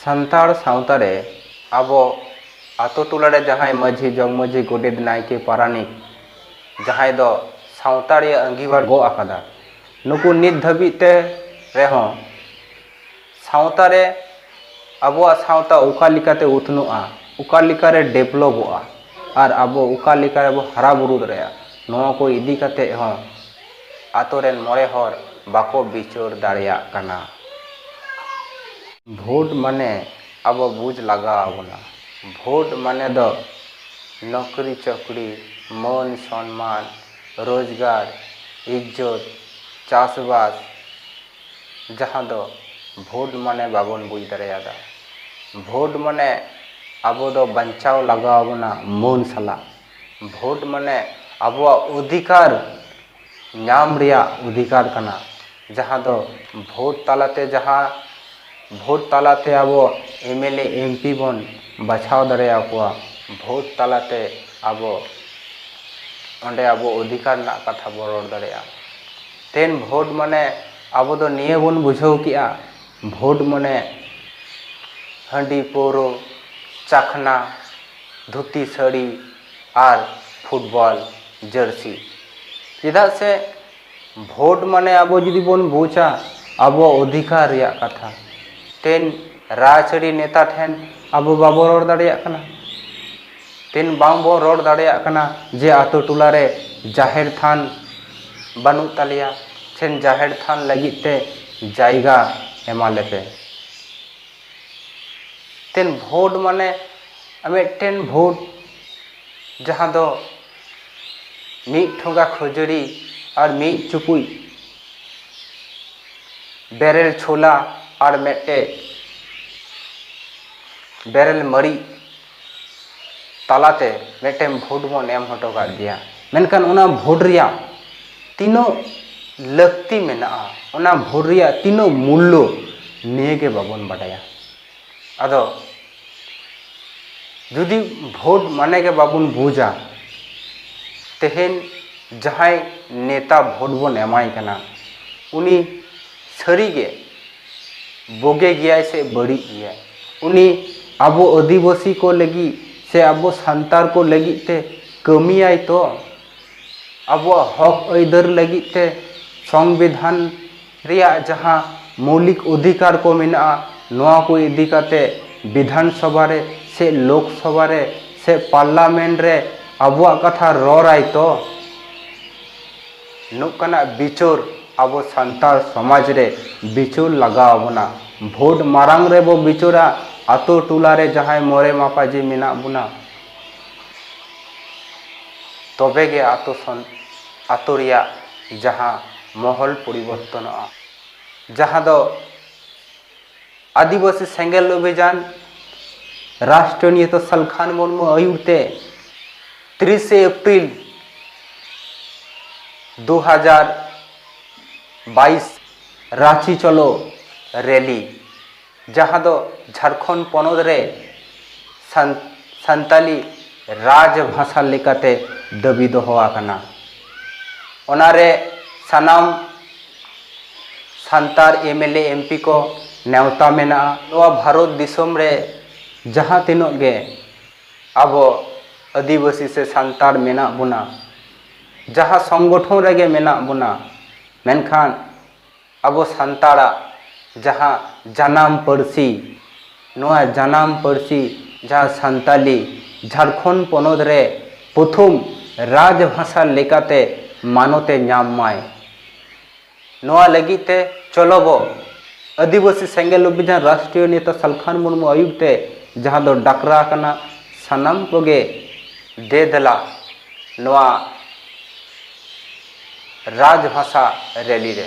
ᱥᱟᱱᱛᱟᱲ ᱥᱟᱶᱛᱟ ᱨᱮ ᱟᱵᱚ ᱟᱛᱳ ᱴᱚᱞᱟ ᱨᱮ ᱡᱟᱦᱟᱸᱭ ᱢᱟᱹᱡᱷᱤ ᱡᱚᱜᱽ ᱢᱟᱹᱡᱷᱤ ᱜᱚᱰᱮᱛ ᱱᱟᱭᱠᱮ ᱯᱟᱨᱟᱱᱤᱠ ᱡᱟᱦᱟᱸᱭ ᱫᱚ ᱥᱟᱶᱛᱟ ᱨᱮᱭᱟᱜ ᱟᱺᱜᱤᱵᱷᱟᱨ ᱜᱚᱜ ᱟᱠᱟᱫᱟ ᱱᱩᱠᱩ ᱱᱤᱛ ᱫᱷᱟᱹᱵᱤᱡ ᱛᱮ ᱨᱮᱦᱚᱸ ᱥᱟᱶᱛᱟ ᱨᱮ ᱟᱵᱚᱣᱟᱜ ᱥᱟᱶᱛᱟ ᱚᱠᱟ ᱞᱮᱠᱟᱛᱮ ᱩᱛᱱᱟᱹᱜᱼᱟ ᱚᱠᱟ ᱞᱮᱠᱟᱨᱮ ᱰᱮᱵᱷᱞᱚᱯᱚᱜᱼᱟ ᱟᱨ ᱟᱵᱚ ᱚᱠᱟ ᱞᱮᱠᱟ ᱨᱮᱵᱚ ᱦᱟᱨᱟ ᱵᱩᱨᱩ ᱫᱟᱲᱮᱭᱟᱜᱼᱟ ᱱᱚᱣᱟ ᱠᱚ ᱤᱫᱤ ᱠᱟᱛᱮ ᱦᱚᱸ ᱟᱛᱳ ᱨᱮᱱ ᱢᱚᱬᱮ ᱦᱚᱲ ᱵᱟᱠᱚ ᱵᱤᱪᱟᱹᱨ ᱫᱟᱲᱮᱭᱟᱜ ᱠᱟᱱᱟ᱾ ᱵᱷᱳᱴ ᱢᱟᱱᱮ ᱟᱵᱚ ᱵᱩᱡᱽ ᱞᱟᱜᱟᱣ ᱟᱵᱚᱱᱟ᱾ ᱵᱷᱳᱴ ᱢᱟᱱᱮ ᱫᱚ ᱱᱚᱠᱨᱤ ᱪᱚᱠᱨᱤ, ᱢᱟᱹᱱ ᱥᱚᱱᱢᱟᱱ, ᱨᱳᱡᱽᱜᱟᱨ, ᱤᱡᱽᱡᱚᱛ, ᱪᱟᱥ ᱵᱟᱥ ᱡᱟᱦᱟᱸ ᱫᱚ ᱵᱷᱳᱴ ᱢᱟᱱᱮ ᱵᱟᱵᱚᱱ ᱵᱩᱡᱽ ᱫᱟᱲᱮᱭᱟᱫᱟ᱾ ᱵᱷᱳᱴ ᱢᱟᱱᱮ ᱟᱵᱚ ᱫᱚ ᱵᱟᱧᱪᱟᱣ ᱞᱟᱜᱟᱣ ᱟᱵᱚᱱᱟ ᱢᱟᱹᱱ ᱥᱟᱞᱟᱜ᱾ ᱵᱷᱳᱴ ᱢᱟᱱᱮ ᱟᱵᱚᱣᱟᱜ ᱚᱫᱷᱤᱠᱟᱨ ᱧᱟᱢ ᱨᱮᱭᱟᱜ ᱚᱫᱷᱤᱠᱟᱨ ᱠᱟᱱᱟ ᱡᱟᱦᱟᱸ ᱫᱚ ᱵᱷᱳᱴ ᱛᱟᱞᱟᱛᱮ ᱡᱟᱦᱟᱸ ᱵᱷᱳᱴ ᱛᱟᱞᱟᱛᱮ ᱟᱵᱚ M L A M P ᱵᱚᱱ ᱵᱟᱪᱷᱟᱣ ᱫᱟᱲᱮ ᱟᱠᱚᱣᱟ ᱵᱷᱳᱴ ᱛᱟᱞᱟᱛᱮ ᱟᱵᱚ ᱚᱸᱰᱮ ᱟᱵᱚ ᱚᱫᱷᱤᱠᱟᱨ ᱨᱮᱱᱟᱜ ᱠᱟᱛᱷᱟ ᱵᱚᱱ ᱨᱚᱲ ᱫᱟᱲᱮᱭᱟᱜᱼᱟ ᱛᱮᱦᱮᱧ ᱵᱷᱳᱴ ᱢᱟᱱᱮ ᱟᱵᱚ ᱫᱚ ᱱᱤᱭᱟᱹ ᱵᱚᱱ ᱵᱩᱡᱷᱟᱹᱣ ᱠᱮᱜᱼᱟ ᱵᱷᱳᱴ ᱢᱟᱱᱮ ᱦᱟᱺᱰᱤ ᱯᱟᱹᱣᱨᱟᱹ ᱪᱟᱠᱷᱱᱟ ᱫᱷᱩᱛᱤ ᱥᱟᱹᱲᱤ ᱟᱨ ᱯᱷᱩᱴᱵᱚᱞ ᱡᱟᱹᱨᱥᱤ ᱪᱮᱫᱟᱜ ᱥᱮ ᱵᱷᱳᱴ ᱢᱟᱱᱮ ᱟᱵᱚ ᱡᱩᱫᱤ ᱵᱚᱱ ᱵᱩᱡᱟ ᱟᱵᱚᱣᱟᱜ ᱚᱫᱷᱤᱠᱟᱨ ᱨᱮᱭᱟᱜ ᱠᱟᱛᱷᱟ ᱛᱮᱱ ᱨᱟᱡᱽᱟᱹᱨᱤ ᱱᱮᱛᱟ ᱴᱷᱮᱱ ᱟᱵᱚ ᱵᱟᱵᱚ ᱨᱚᱲ ᱫᱟᱲᱮᱭᱟᱜ ᱠᱟᱱᱟ ᱛᱮᱱ ᱵᱟᱝ ᱵᱚ ᱨᱚᱲ ᱫᱟᱲᱮᱭᱟᱜ ᱠᱟᱱᱟ ᱡᱮ ᱟᱹᱛᱩ ᱴᱚᱞᱟ ᱨᱮ ᱡᱟᱦᱮᱨ ᱛᱷᱟᱱ ᱵᱟᱹᱱᱩᱜ ᱛᱟᱞᱮᱭᱟ ᱥᱮ ᱡᱟᱦᱮᱨ ᱛᱷᱟᱱ ᱞᱟᱹᱜᱤᱫ ᱛᱮ ᱡᱟᱭᱜᱟ ᱮᱢᱟ ᱞᱮᱯᱮ ᱢᱤᱫᱴᱮᱱ ᱵᱷᱳᱴ ᱢᱟᱱᱮ ᱢᱤᱫᱴᱮᱱ ᱵᱷᱳᱴ ᱡᱟᱦᱟᱸ ᱫᱚ ᱢᱤᱫ ᱴᱷᱚᱸᱜᱟ ᱠᱷᱟᱹᱡᱟᱹᱲᱤ ᱟᱨ ᱢᱤᱫ ᱪᱩᱯᱩᱫ ᱵᱮᱨᱮᱞ ᱪᱷᱳᱞᱟ ᱟᱨ ᱢᱤᱫᱴᱮᱱ ᱵᱮᱨᱮᱞ ᱢᱟᱹᱨᱤᱪ ᱛᱟᱞᱟᱛᱮ ᱢᱤᱫᱴᱮᱱ ᱵᱷᱳᱴ ᱵᱚᱱ ᱮᱢ ᱦᱚᱴᱚ ᱠᱟᱜ ᱜᱮᱭᱟ ᱢᱮᱱᱠᱷᱟᱱ ᱚᱱᱟ ᱵᱷᱳᱴ ᱨᱮᱭᱟᱜ ᱛᱤᱱᱟᱹᱜ ᱞᱟᱹᱠᱛᱤ ᱢᱮᱱᱟᱜᱼᱟ ᱚᱱᱟ ᱵᱷᱳᱴ ᱨᱮᱭᱟᱜ ᱛᱤᱱᱟᱹᱜ ᱢᱩᱞᱞᱚ ᱱᱤᱭᱟᱹᱜᱮ ᱵᱟᱵᱚᱱ ᱵᱟᱰᱟᱭᱟ ᱟᱫᱚ ᱡᱩᱫᱤ ᱵᱷᱳᱴ ᱢᱟᱱᱮ ᱜᱮ ᱵᱟᱵᱚᱱ ᱵᱩᱡᱟ ᱛᱮᱦᱮᱧ ᱡᱟᱦᱟᱸᱭ ᱱᱮᱛᱟ ᱵᱷᱳᱴ ᱵᱚᱱ ᱮᱢᱟᱭ ᱠᱟᱱᱟ ᱩᱱᱤ ᱥᱟᱹᱨᱤᱜᱮ ᱵᱳᱜᱮ ᱜᱮᱭᱟᱭ ᱥᱮ ᱵᱟᱹᱲᱤᱡ ᱜᱮᱭᱟᱭ ᱩᱱᱤ ᱟᱵᱚ ᱟᱹᱫᱤᱵᱟᱹᱥᱤ ᱠᱚ ᱞᱟᱹᱜᱤᱫ ᱥᱮ ᱟᱵᱚ ᱥᱟᱱᱛᱟᱲ ᱠᱚ ᱞᱟᱹᱜᱤᱫ ᱛᱮ ᱠᱟᱹᱢᱤᱭᱟᱭ ᱛᱚ ᱟᱵᱚᱣᱟᱜ ᱦᱚᱠ ᱟᱹᱭᱫᱟᱹᱨ ᱞᱟᱹᱜᱤᱫ ᱛᱮ ᱥᱚᱝᱵᱤᱫᱷᱟᱱ ᱨᱮᱭᱟᱜ ᱡᱟᱦᱟᱸ ᱢᱳᱣᱞᱤᱠ ᱚᱫᱷᱤᱠᱟᱨ ᱠᱚ ᱢᱮᱱᱟᱜᱼᱟ ᱱᱚᱣᱟ ᱠᱚ ᱤᱫᱤ ᱠᱟᱛᱮ ᱵᱤᱫᱷᱟᱱ ᱥᱚᱵᱷᱟ ᱨᱮ ᱥᱮ ᱞᱳᱠ ᱥᱚᱵᱷᱟ ᱨᱮ ᱥᱮ ᱯᱟᱨᱞᱟᱢᱮᱱᱴ ᱨᱮ ᱟᱵᱚᱣᱟᱜ ᱠᱟᱛᱷᱟ ᱨᱚᱲᱟᱭ ᱛᱚ ᱱᱚᱝᱠᱟᱱᱟᱜ ᱵᱤᱪᱟᱹᱨ ᱟᱵᱚ ᱥᱟᱱᱛᱟᱲ ᱥᱚᱢᱟᱡᱽ ᱨᱮ ᱵᱤᱪᱟᱹᱨ ᱞᱟᱜᱟᱣ ᱟᱵᱚᱱᱟ ᱵᱷᱳᱴ ᱢᱟᱲᱟᱝ ᱨᱮᱵᱚ ᱵᱤᱪᱟᱹᱨᱟ ᱟᱹᱛᱩ ᱴᱚᱞᱟ ᱨᱮ ᱡᱟᱦᱟᱸᱭ ᱢᱚᱬᱮ ᱢᱟᱯᱟᱡᱤ ᱢᱮᱱᱟᱜ ᱵᱚᱱᱟ ᱛᱚᱵᱮ ᱜᱮ ᱟᱹᱛᱩ ᱟᱹᱛᱩ ᱨᱮᱭᱟᱜ ᱡᱟᱦᱟᱸ ᱢᱚᱦᱚᱞ ᱯᱚᱨᱤᱵᱚᱨᱛᱚᱱᱚᱜᱼᱟ ᱡᱟᱦᱟᱸ ᱫᱚ ᱟᱹᱫᱤᱵᱟᱹᱥᱤ ᱥᱮᱸᱜᱮᱞ ᱚᱵᱷᱤᱡᱟᱱ ᱨᱟᱥᱴᱨᱤᱭᱚ ᱱᱮᱛᱟ ᱥᱟᱞᱠᱷᱟᱱ ᱢᱩᱨᱢᱩ ᱟᱹᱭᱩᱨ ᱛᱮ ᱛᱤᱨᱤᱥᱮ ᱮᱯᱨᱤᱞ ᱫᱩ ᱦᱟᱡᱟᱨ ᱵᱟᱭᱤᱥ ᱨᱟᱺᱪᱤ ᱪᱚᱞᱚ ᱨᱮᱞᱤ ᱡᱟᱦᱟᱸ ᱫᱚ ᱡᱷᱟᱲᱠᱷᱚᱸᱰ ᱯᱚᱱᱚᱛ ᱨᱮ ᱥᱟᱱ ᱥᱟᱱᱛᱟᱞᱤ ᱨᱟᱡᱽ ᱵᱷᱟᱥᱟ ᱞᱮᱠᱟᱛᱮ ᱫᱟᱹᱵᱤ ᱫᱚᱦᱚ ᱟᱠᱟᱱᱟ ᱚᱱᱟᱨᱮ ᱥᱟᱱᱟᱢ Santal M L A M P ᱠᱚ ᱱᱮᱣᱛᱟ ᱢᱮᱱᱟᱜᱼᱟ ᱱᱚᱣᱟ ᱵᱷᱟᱨᱚᱛ ᱫᱤᱥᱚᱢ ᱨᱮ ᱡᱟᱦᱟᱸ ᱛᱤᱱᱟᱹᱜ ᱜᱮ ᱟᱵᱚ ᱟᱹᱫᱤᱵᱟᱹᱥᱤ ᱥᱮ ᱥᱟᱱᱛᱟᱲ ᱢᱮᱱᱟᱜ ᱵᱚᱱᱟ ᱡᱟᱦᱟᱸ ᱥᱚᱝᱜᱚᱴᱷᱚᱱ ᱨᱮᱜᱮ ᱢᱮᱱᱟᱜ ᱵᱚᱱᱟ ᱢᱮᱱᱠᱷᱟᱱ ᱟᱵᱚ ᱥᱟᱱᱛᱟᱲᱟᱜ ᱡᱟᱦᱟᱸ ᱡᱟᱱᱟᱢ ᱯᱟᱹᱨᱥᱤ, ᱱᱚᱣᱟ ᱡᱟᱱᱟᱢ ᱯᱟᱹᱨᱥᱤ ᱡᱟᱦᱟᱸ ᱥᱟᱱᱛᱟᱞᱤ ᱡᱷᱟᱨᱠᱷᱚᱸᱰ ᱯᱚᱱᱚᱛ ᱨᱮ ᱯᱨᱚᱛᱷᱚᱢ ᱨᱟᱡᱽ ᱵᱷᱟᱥᱟ ᱞᱮᱠᱟᱛᱮ ᱢᱟᱱᱚᱛ ᱮ ᱧᱟᱢ ᱢᱟᱭ, ᱱᱚᱣᱟ ᱞᱟᱹᱜᱤᱫ ᱛᱮ ᱪᱚᱞᱚ ᱵᱚ ᱟᱹᱫᱤᱵᱟᱹᱥᱤ ᱥᱮᱸᱜᱮᱞ ᱚᱵᱷᱤᱡᱟᱱ ᱨᱟᱥᱴᱨᱤᱭᱚ ᱱᱮᱛᱟ ᱥᱟᱞᱠᱷᱟᱱ ᱢᱩᱨᱢᱩ ᱟᱹᱭᱩᱨ ᱛᱮ ᱡᱟᱦᱟᱸ ᱫᱚ ᱰᱟᱠᱨᱟ ᱟᱠᱟᱱᱟ ᱥᱟᱱᱟᱢ ᱠᱚᱜᱮ ᱫᱮ ᱫᱮᱞᱟ ᱱᱚᱣᱟ ᱨᱟᱡᱽ ᱵᱷᱟᱥᱟ ᱨᱮᱞᱤ ᱨᱮ᱾